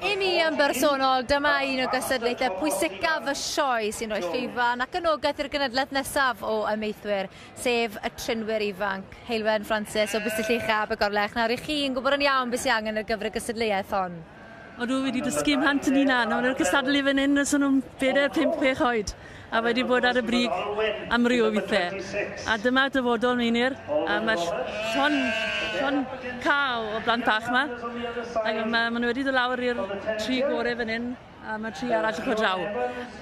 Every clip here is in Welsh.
I mi yn bersonol, dyma un o gystadlaethau pwysicaf y sioe sy'n rhoi llwyfan ac anogaeth i'r gynadledd nesaf o ymeithwyr, sef y trinwyr ifanc. Heilwen Francis o Bustell Uchaf y Gorlech, nawr i chi'n gwybod yn iawn beth sy'n angen ar gyfer y gystadleuaeth hon? O'n nhw wedi dysgu mhant yn hunan. O'n nhw'n cystadlu fan hyn os o'n nhw'n bedair, pump, chwech oed. A wedi bod ar y brig amryw o withe. A dyma dyfodol Meinir. A mae llon, llon cael o blant bach yma. Ac mae, mae nhw wedi dod lawr i'r tri gore fan hyn a mae tri arall yn draw.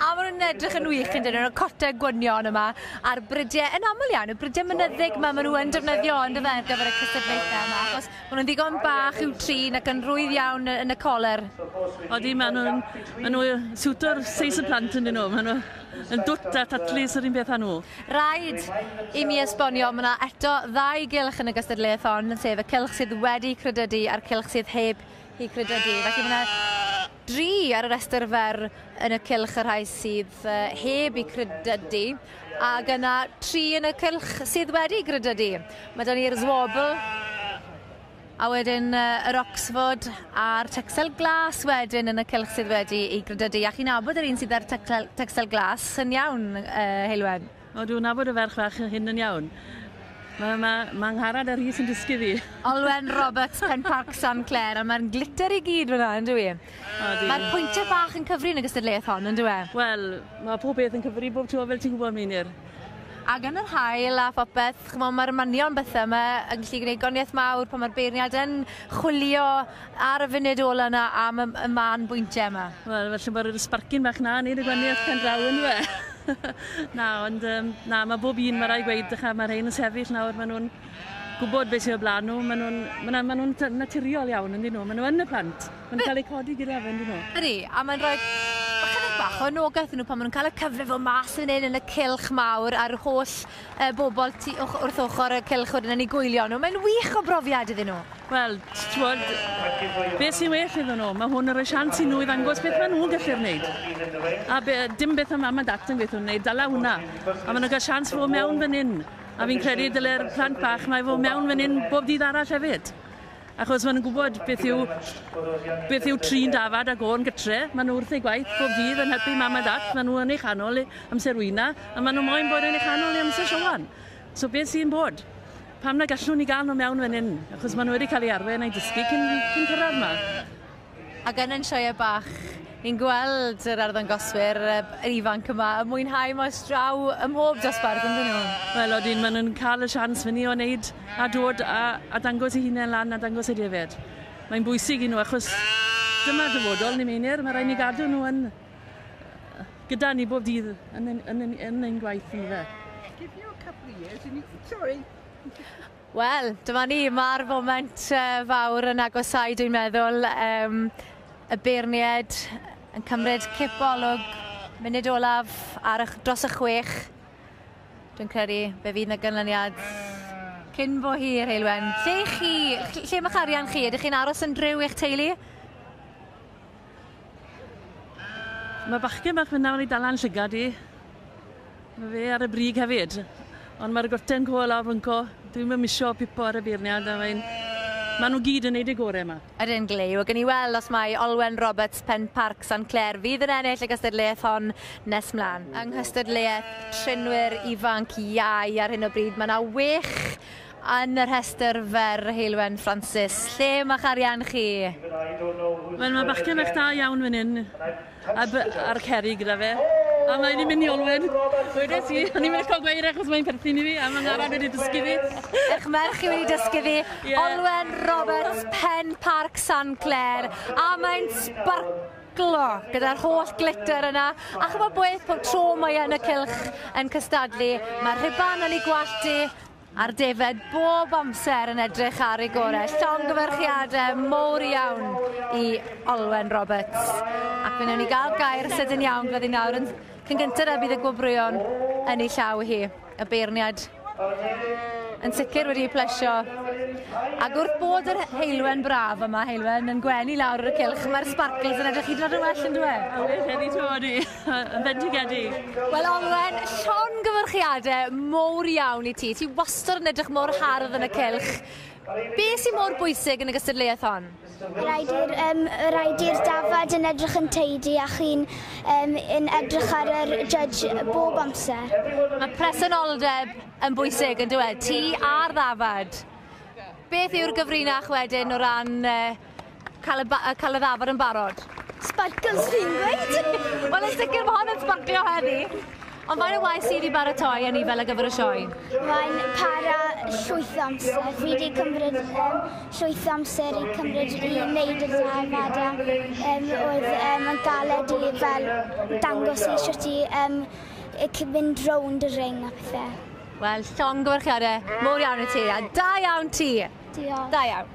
A maen nhw'n edrych yn wych yn dyn nhw'n cotau gwynion yma a'r bridiau yn aml iawn, y bridiau mynyddig yma maen nhw yn defnyddio yn dyfa ar gyfer y cystadlaethau yma. Achos Maen nhw'n ddigon bach i'w trin ac yn rwydd iawn yn y coler. Odi, maen nhw'n maen nhw siwto'r seis y plant yn dyn nhw. Maen nhw yn dwt a tatlis yr un peth â nhw. Rhaid i mi esbonio, mae yna eto ddau gylch yn y gystadleuaeth hon, sef y cylch sydd wedi credydu a'r cylch sydd heb i credydu. Felly mae yna Dri ar y rhestr fer yn y cylch y rhai sydd heb eu credydu, ac yna tri yn y cylch sydd wedi credydu. Mae da ni'r Zwobl, a wedyn yr Oxford a'r Texel Glas wedyn yn y cylch sydd wedi ei gredydu. A chi'n abod yr un sydd â'r Texel Glas, yn iawn, uh, Heilwen? O dwi'n nabod y ferch fach hyn yn iawn. Mae ma, ma ngharad a Rhys yn dysgu fi. Olwen Roberts, Penparc San Clair, a mae'n glitter i gyd fyna, yn dwi? Mae'r pwyntiau bach yn cyfri yn y gystadleuaeth hon, yn dwi? Wel, mae pob beth yn cyfri bob tro fel ti'n gwybod, Meinir. Ac yn yr hael a phopeth, chymod, mae'r manion bethau yma yn gallu gwneud goniaeth mawr pan mae'r beirniad yn chwilio Ar y funud ola 'na am y, y man bwyntiau yma? Wel, felly bod yr sbarcyn bach na, nid y gwaniaeth pen draw yn fe. na, ond um, na, mae bob un, mae rai gweud, dycha, mae rhain yn sefyll nawr, maen nhw'n gwybod beth sy'n o blaen nhw, maen nhw'n ma ma nhw naturiol iawn, ynddyn nhw, maen nhw yn y plant, maen nhw'n cael eu codi gyda fe, ynddyn nhw. Ydy, a mae'n rhaid bach o anogaeth nhw pan maen nhw'n cael y cyfle fod mas yn hyn yn y cilch mawr a'r holl y bobl tu och- wrth ochr y cylch wedyn yn eu gwylio nhw. Mae'n wych o brofiad iddyn nhw. Wel, t- t'mod, beth sy'n well iddyn nhw? Mae hwn yn rhoi sians i nhw i ddangos beth maen nhw'n gallu'r wneud. A be, dim beth am mam a dat yn gweithio nhw'n wneud, dala hwnna. A maen nhw'n cael sians fo mewn fan hyn. A fi'n credu dylai'r plant bach mae fo mewn fan hyn bob dydd arall hefyd. Achos maen nhw'n gwybod beth yw, beth yw trin dafad a gôn gytre. Maen nhw wrth eu gwaith bob dydd yn helpu mam a dat. Maen nhw yn ei chanol amser wyna a maen nhw moyn bod yn ei chanol ei amser siowan. So beth sy'n bod? Pam na gallwn ni gael nhw mewn fan hyn? Achos maen nhw wedi cael ei arwen a'i dysgu cyn, cyn cyrraedd yma. A gan yn sioeau bach, ni'n gweld yr arddangoswyr ifanc yma yn mwynhau maes draw ym mhob dosbarth, yn dyn nhw? Wel, odyn, maen nhw'n cael y sians fyny o wneud a dod a, a dangos eu hunain lan a dangos y defaid. Mae'n bwysig i nhw achos dyma'r dyfodol, ni Meinir, mae rhaid ni gadw nhw yn, gyda ni bob dydd yn, yn, yn, yn ein gwaith, yndyfe? Give you a couple of years and you... Sorry! Wel, dyma ni, mae'r foment fawr yn agosau dwi'n meddwl. Um, y beirniaid yn cymryd cip olwg munud olaf ar ych, dros y chwech. Dwi'n credu fe fydd na ganlyniad cyn bo hir, Heilwen. Lle chi, lle mae'ch arian chi? Ydych chi'n aros yn driw i'ch teulu? Mae bachgen bach fyna wedi dal lan llygad i. Mae fe ar y brig hefyd. Ond mae'r gorten coel lawr fynco. Dwi'm yn misio pipo ar y beirniad a mae'n... Maen nhw gyd yn neud eu gore yma. Ydyn, Glei. Wel, gawn ni weld os mai Olwen Roberts, Pen-parc Sant Clair, fydd yn ennill y gystadleuaeth hon nes mlan. Yng nghystadleuaeth trinwyr ifanc iau ar hyn o bryd mae 'na wech Yn y rhestr fer, Heulwen Francis, lle ma'ch arian chi? Wel ma bachgen fach da iawn fan hyn a by- a'r ceri gyda fe a mae di mynd i olwyn wedes i o'n i'n meindio gweud e achos mae'n perthyn i fi a ma Ngharad wedi dysgu fi. Eich merch i wedi dysgu fi. Ie. Olwen Roberts, Pen Parc San Clair a mae'n sbarclo gyda'r holl glitter yna a ch'mo' beth pob tro mae yn y cylch yn cystadlu ma rhuban yn ei gwallt i A'r defaid bob amser yn edrych ar ei gore. Llongyfarchiadau mowr iawn i Olwen Roberts. Ac fe wnawn ni gael gair sydyn iawn gyda ni nawr. Yn cyn gyntaf a bydd y gwobrwyon yn ei llaw hi. Y beirniad yn sicr wedi ei plesio. Ac wrth bod yr heilwen braf yma, heilwen yn gwenu lawr ar y cilch, mae'r sparkles yn edrych hyd yn oed yn well yn dweud. Oes, wedi troi. Yn fendigedig. Wel Olwen, llongyfarchiadau mowr iawn i ti. Ti wastad yn edrych mor hardd yn y cylch. Be sy'n mor bwysig yn y gystadleuaeth hon? Rhaid i'r um, rhaid i'r dafad yn edrych yn teidi a chi'n um, yn edrych ar yr judge bob amser. Mae presenoldeb yn bwysig yn dweud, ti a'r ddafad. Beth yw'r gyfrinach wedyn o ran uh, Cael y, ba- cael y ddafod yn barod. Sparkles fi'n gweud! Wel, yn sicr mae hon yn sbarclio heddi. Ond fain o waith sydd i baratoi a ni fel y gyfer y sioe? Mae'n para llwyth amser. Fi wedi cymryd um, llwyth amser i cymryd i wneud y ddafad a um, oedd um, yn galed i fel dangos i sut i um, mynd rownd y ring a pethau. Wel, llongyfarchiadau mowr iawn i ti, a da iawn ti! Diolch. Da iawn.